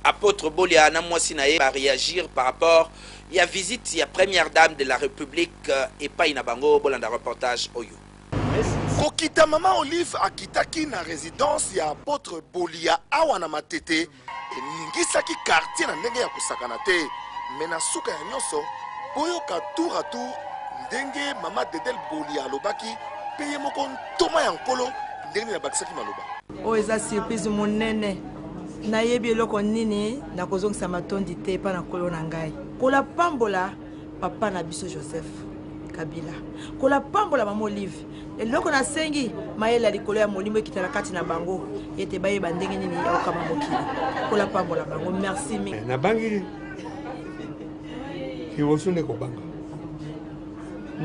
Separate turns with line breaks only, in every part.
Apotre Bolia na mwasi na ye ba reagir par rapport ya visite ya première dame de la Republique euh, epai na bango. Bolanda reportage oyo. Kokita
mama Olive akitaki na residence ya apotre Bolia awa na Matete eningisaki quartier na ndenge ya kosakana te, mais na suka ya nyonso boyoka tour à tour ndenge mama Dedel Bolia alobaki mpe ye moko ntoma ya Nkolo ndenge nini abakisaki maloba. Oyo eza surprise
monene. Nayebi eloko nini nakozongisa matondi te epai na Nkolo na ngai. Nkolo apambola papa na biso Joseph Kabila. Nkolo apambola mama Olive. Eloko nasengi mayele ya likolo ya molimo ekita na kati na bango ete bayeba ndenge nini ya kokamba mokili. Nkolo apambola bango. Merci mingi. Eh, nabangi
liboso nde kobanga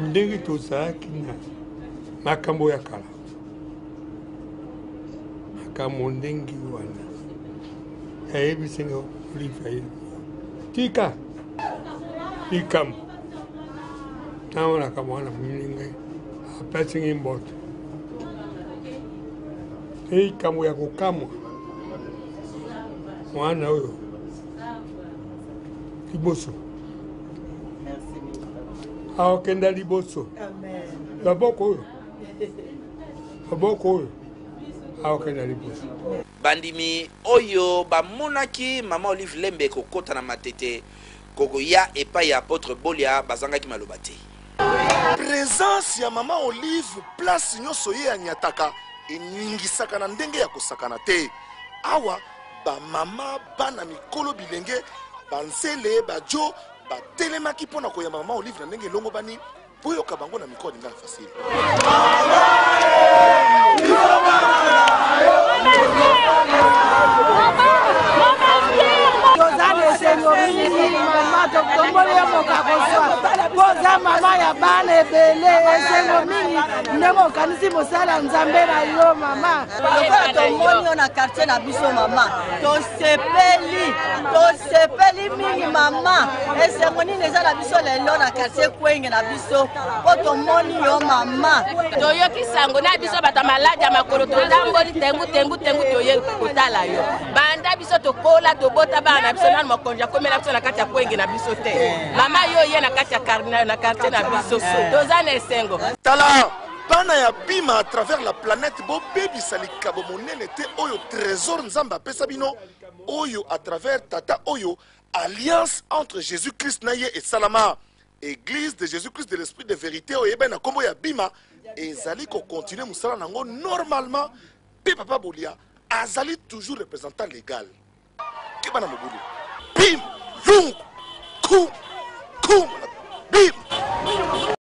ndenge tozalaki na makambo ya kala makambo ndenge wana ayebisi nga olive ye tika likambo ntango nakambo wana moningai apesi ngai mboto mpe likambo ya kokamwa mwana oyo liboso akokenda liboso loboko oyo maboko oyo akokenda liboso bandimi
oyo bamonaki mama olive lembe kokota na matete kokoya epai ya apotre bolia bazangaki maloba te
presence ya mama olive place nyonso ye anyataka eningisaka na ndenge ya kosakana te awa bamama bana mikolo bilenge banzele bajo batelemaki mpo na koyamba mama olive na ndenge elongobani Koyoka bango na micro alingaka facile.
oza mama ya bana ebele esengo mingi ndenge okanisi mosala nzambe na yo mama lokola tomoni
yo na quartier na biso mama tosepeli tosepeli mingi mama esengo nini eza na biso lelo na kartier kwenge na biso mpo tomoni yo mama toyoki sango
na biso bato ya maladi ya makolo totamboli tengu tengu tengu toye kotala yo banda biso tokola tobota bana na biso nano makonzi akomela biso na kati ya kwenge na biso te mama yo oye na kati ya kartier na biso toza na esengo tala
Bana ya Bima à travers la planète bobebisa likabo monene te oyo trésor Nzambe apesa bino oyo à travers tata oyo alliance entre Jésus-Christ na ye esalama. Église de Jésus-Christ de l'Esprit de vérité oyo eyebani na nkombo ya Bima ezali kocontinue mosala na yango normalement mpe Papa Bolia azali toujours représentant légal. Keba na mobulu. Bim! Lungu! Kum! Kum! Bim!